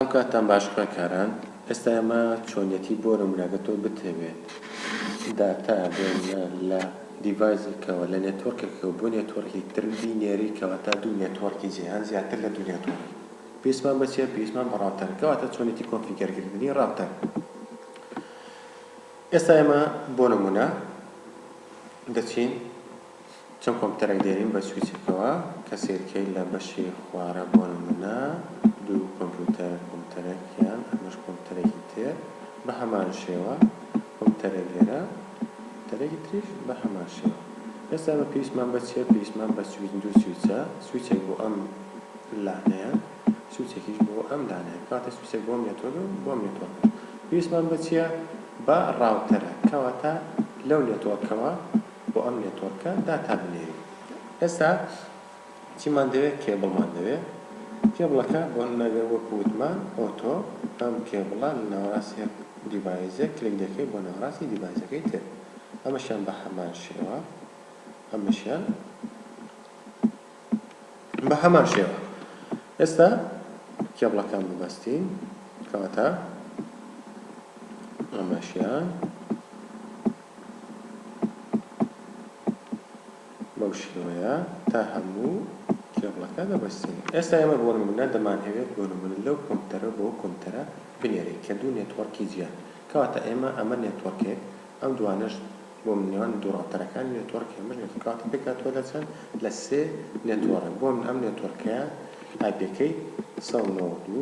ئەو کاتتان باش خوێندکاران. ئێستا ئێمە چۆنیەتی بۆ نمونە ئەگەر تۆ بتەوێت داتا بێنە لە دیڤایسێکەوە لە نێتۆرکێکەوە بۆ نێتۆرکی تر بینێری کەواتە دوو نێتۆرکی جیهان زیاتر لە دوو نێتۆرک پێویستمان بە چیە پێویستمان بە ڕاوتەرە کەواتە چۆنیەتی کۆنفیگەر کردنی ڕاوتەر ئێستا ئێمە بۆ نمونە دەچین چەند کۆمپیوتەرێک دێنین بە سویچێکەوە کە سەیرکەی لە بەشی خوارە بۆ نمونە دوو کۆمپیوتەر کۆمپیوتەرێک یان ئەمەش کۆمپیوتەرێکی تر بە هەمان شێوە کۆمپیوتەرێک لێرە کۆمپیوتەرێکی تریش بە هەمان شێوە ئێستا ئێمە پێویستمان بە چیە پێویستمان بە سویچ دوو سویچە سویچێک بۆ ئەم لانەیە سویچێکیش بۆ ئەم لانەیە کاتە سویچێک بۆم نێتۆر و بۆم نێتۆر پێویستمان بە چیە بە ڕاوتەرە کەواتە لەو نێتۆرکەوە بۆ ئەم نێتۆرکە داتا بنێرین ئێستا چیمان دەوێت کێبڵمان دەوێت کێبڵەکە بۆ نمونە گەر وەکو وتمان ئۆتۆ ئەم کێبڵە لە ناوەراست یەک دیڤایزێک کلک دەکەی بۆ ناوەراستی دیڤایزەکەی تر ئەمەشیان بە هەمان شێوە ئەمەشیان بە هەمان شێوە ئێستا کێبڵەکان ببەستین کەواتە ئەمەشیان بەو شێوەیە تا هەموو کێبڵەکە دەبەستێنین ئێستا ئێمە بۆ نمونە دەمانهەوێت بۆ نمونە لەو کۆمپیوتەرەوە بەو کۆمپیوتەرە بنێرین کە دوو نێتوەڕکی جیان کەواتە ئێمە ئەمە نێتوەڕکێک ئەم دوانەش بۆ نێوان دوو ڕاوتەرەکانی نێتوەڕک ئەمەش نێتوەڕک کەواتە پێکهاتووە لە چەند لە سێ نێتوەڕک بۆ من ئەم نێتوەڕکەیە ئایپێکەی سەد و نەوەد و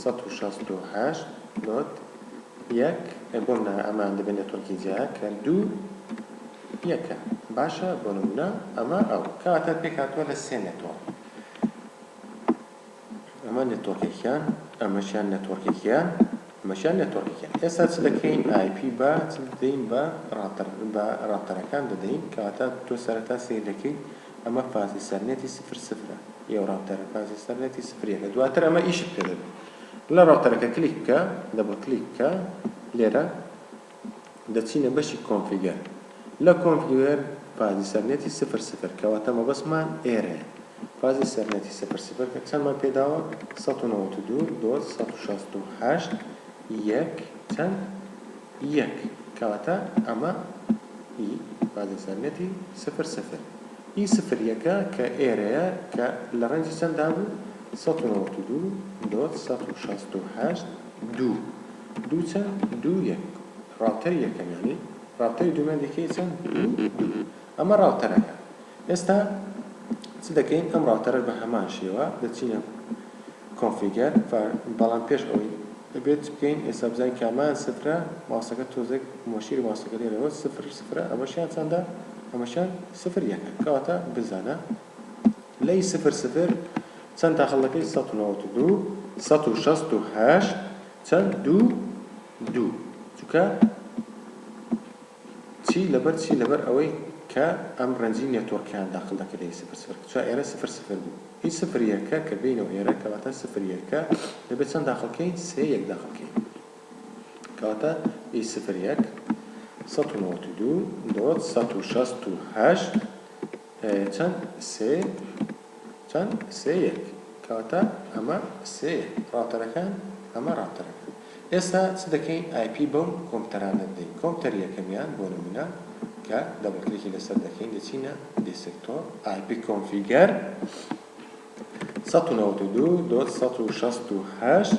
سەد و شەست و هەشت نۆت یەک ئێ بۆ منە ئەمە دەبێ نێتۆرکی جیایە کە دوو یەکە باشە بۆ نمونە ئەمە ئەو کەواتە پێک هاتوە لە سێ نێتۆرک ئەمە نێتۆرکێکیان ئەمەشیان نێتۆرکێکیان ئەمەشیان نێتۆرکێکیان ئێستا چ دەکەین ئای پی بە چ دەدەین بە ڕاتەر بە ڕاتەرەکان دەدەین کەواتە تۆ سەرەتا سەیر دەکەیت ئەمە فازی سەر نێتی سفر سفرە یەو ڕاوتەرە فازی سەر نێتی سفر یەکە دواتر ئەمە ئیشت پێ دەبێ لە ڕاوتەرەکە کلیک بکە دەبڵ کلیک بکە لێرە دەچینە بەشی کۆنفیگەر لە کۆنفیگەر فازی سەر نێتی سفر سفر کەواتە مەبەستمان ئێرەیە فازی سەر نێتی سفر سفر کە چەندمان پێ داوە سەد و نەوەد و دوو دۆت سەد و شەست و هەشت یەک چەند یەک، کەواتە ئەمە ئی بازی سەرنێتی سفر سفر. ئی سفر یەکە کە ئێرەیە کە لە ڕێنجی چەنددا بوو؟ سەد و نەوەد و دوو دۆت سەد و شەست و هەشت دوو. دوو چەند؟ دوو یەک. ڕاوتەری یەکەمیانی، ڕاوتەری دوومیان دیکەی چەند؟ دوو دوو. ئەمە ڕاوتەرەکە ئێستا چ دەکەین ئەم ڕاوتەرەش بە هەمان شێوە دەچینە کۆنفیگەر بەڵام پێش ئەوەی دەبێت چ بکەین ئێستا بزانین کامیان سفرە ماوسەکە تۆزێک مۆشیری ماوسەکە لێرەوە سفر سفرە ئەمەشیان چەندە ئەمەشیان سفر یەکە کەواتە بزانە لەی سفر سفر چەند داخل دەکەی سەد و نەوەد و دوو سەد و شەست و هەشت چەند دوو دوو چونکە چی لەبەر چی لەبەر ئەوەی کە ئەم رەنجی نێتۆرکەیان داخل دەکرد لە ی سفر سفر کە چوە ئێرە سفر سفر بوو ی سفر یەکە کە بێینەوە ئێرە کەواتە سفر یەکە دەبێت چەند داخل کەین سێ یەک داخل کەین کەواتە ی سفر یەک سەد و نەوەت و دوو دۆت سەد و شەست و هەشت چەند سێ چەند سێ یەک کەواتە ئەمە سێ یەک ڕاوتەرەکان ئەمە ڕاوتەرەکان ئێستا چ دەکەین ئای پی بەو کۆمپتەرانە دەدەین کۆمپتەری یەکەمیان بۆ نمونە کە دەبل کلیکی لەسەر دەکەین دەچینە دیسکتۆپ ئای پی کۆنفیگەر سەد و نەوەد و دوو دۆت سەد و شەست و هەشت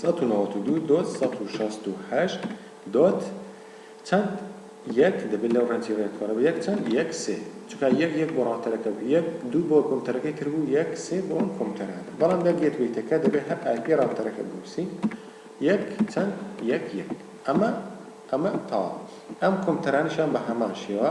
سەد و نەوەد و دوو دۆت سەد و شەست و هەشت دۆت چەند یەک دەبێت لەو ڕێنجی ڕێکخۆرە بە یەک چەند یەک سێ چونکە یەک یەک بۆ ڕاوتەرەکە بوو یەک دوو بۆ کۆمپتەرەکەی تر بوو یەک سێ بۆ ئەم کۆمپتەرە بەڵام لە گێت وەیتەکە دەبێت هەر ئای پی ڕاوتەرەکە بنووسی یەک چەند یەک یەک ئەمە ئەمە تەواو ئەم کۆمپتەرانیشان بە هەمان شێوە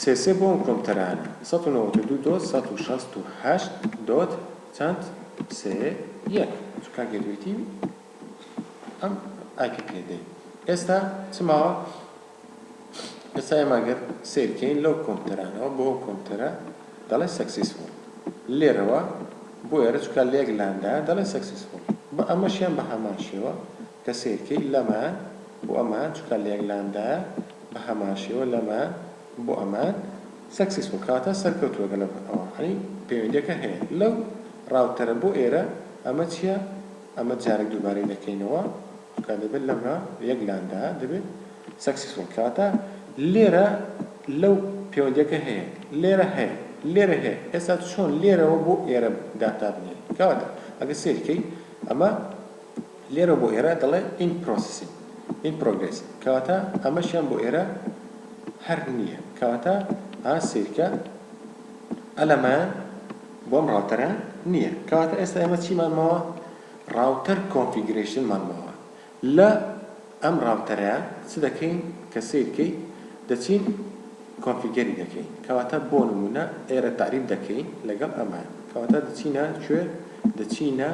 سێ سێ بۆ ئەم کۆمپتەرانە. سەد و نەوەد و دوو دۆت سەد و شەست و هەشت دۆت چەند سێ یەک چ کاک یەکێتی ئەم ئایپی پێ دەی ئێستا چ ماوە ئێستا ئێمە ئەگەر سیر کەین لەو کۆمپتەرانەوە بۆ کۆمپتەرە دەڵێ سەکسیسفۆڵ لێرەوە بۆ ئێرە چکە لە یەک لاندایە دەڵێ سەکسیسفۆڵ بە ئەمەشیان بە هەمان شێوە دە سەیرکەی لەمان بۆ ئەمان چوکە لێگلاندە بە هەمان شێوە لەمان بۆ ئەمان سەکسیسفوڵ کەواتە سەرکەوتوە گەلە بۆ ئەوە یانی پەیوەندیەکە هەیە لەو ڕاوتەرە بۆ ئێرە ئەمە چیە ئەمە جارێک دووبارەی دەکەینەوە چوکە دەبێت لەما یەگلاندە دەبێت سەکسیسفوڵ کەواتە لێرە لەو پەیوەندیەکە هەیە لێرە هەیە لێرە هەیە ئێستا چۆن لێرەوە بۆ ئێرە داتا بنێین کەواتە ئەگە سەیرکەی ئەمە لێرە بۆ ئێرە دەڵێ in processing in progress کەواتە ئەمەشیان بۆ ئێرە هەر نییە کەواتە ئا سەیرکە ئەلەمایان بۆم ڕاوتەرە نییە کەواتە ئێستا ئێمە چیمان ماوە ڕاوتەر کۆنفیگرەیشنمان ماوە لە ئەم ڕاوتەرە چ دەکەین کە سەیرکەی دەچین کۆنفیگەری دەکەین کەواتە بۆ نمونە ئێرە تعریب دەکەین لەگەڵ ئەمان کەواتە دەچینە کوێ دەچینە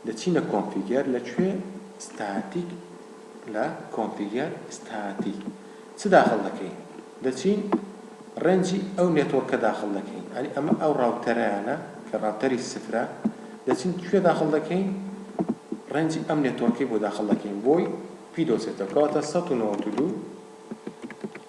دەچینە کۆنفیگەر لە کوێ ستاتیک لە کۆنفیگەر ستاتیک چ داخل دەکەین دەچین ڕێنجی ئەو نێتۆرکە داخل دەکەین ئەنی ئەمە ئەو ڕاوتەرەیانە کە ڕاوتەری سفرە دەچین کوێ داخل دەکەین ڕێنجی ئەم نێتۆرکەی بۆ داخل دەکەین بۆی پی دۆزێتەوە کەواتە سەد و نەوەد و دوو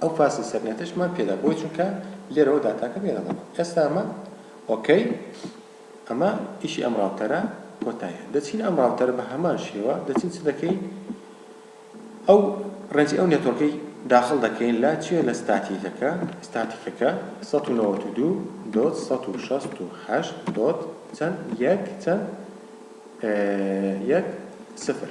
ئەو فاسی سەر نێتش مان پێدا بۆی چونکە لێرەوە داتاکە بێرەڵەبوو ئێستا ئەمە ئۆکەی ئەمە ئیشی ئەم ڕاوتەرە کۆتایە دەچین ئەم ڕاوتەرە بە هەمان شێوە دەچین چ دەکەین ئەو ڕێنجی ئەو نێتۆرکەی داخل دەکەین لە چێ لە ستاتیکەکە ستاتیکەکە 192.168. چەند یەک چەند یەک سفر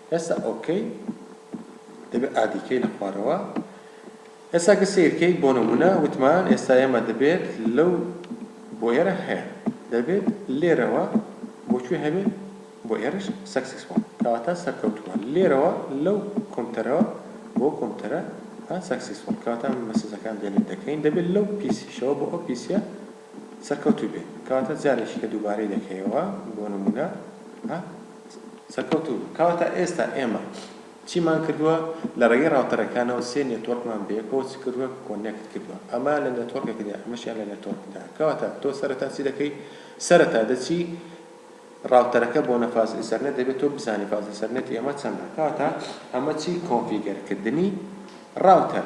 ئێستا ئۆکەی دەبێت ئادی کەی لە خوارەوە ئێستا گە سەیر کەی بۆ نمونە وتمان ئێستا ئێمە دەبێت لەو بۆ ئێرە هەیە دەبێت لێرەوە بۆ کوێ هەبێت بۆ ئێرەش سەکسیس بۆن کەواتە سەرکەوتوە لێرەوە لەو کۆمتەرەوە بۆ کۆمتەرە سەکسیس بۆن کەواتە مەسجەکان دێنێت دەکەین دەبێت لەو پیسیشەوە بۆ ئەو پیسیە سەرکەوتوو بێت کەواتە جارێکی کە دووبارەی دەکەیەوە بۆ نموونە ها سەرکەوتوو بێت کەواتە ئێستا ئێمە چیمان کردووە لە ڕێگەی ڕاوتەرەکانەوە سێ نێتۆرکمان بەیەکەوە چ کردووە کۆنێکت کردووە ئەمە لە نێتۆرکێکدا ئەمەشیان لە نێتۆرکدا کەواتە تۆ سەرەتا چی دەکەی سەرەتا دەچی ڕاوتەرەکە بۆنە فاز ئیسەرنێت دەبێت تۆ بزانی فاز ئیسەرنێتی ئەمە چەندە کەواتە ئەمە چی کۆنفیگەرکردنی ڕاوتەر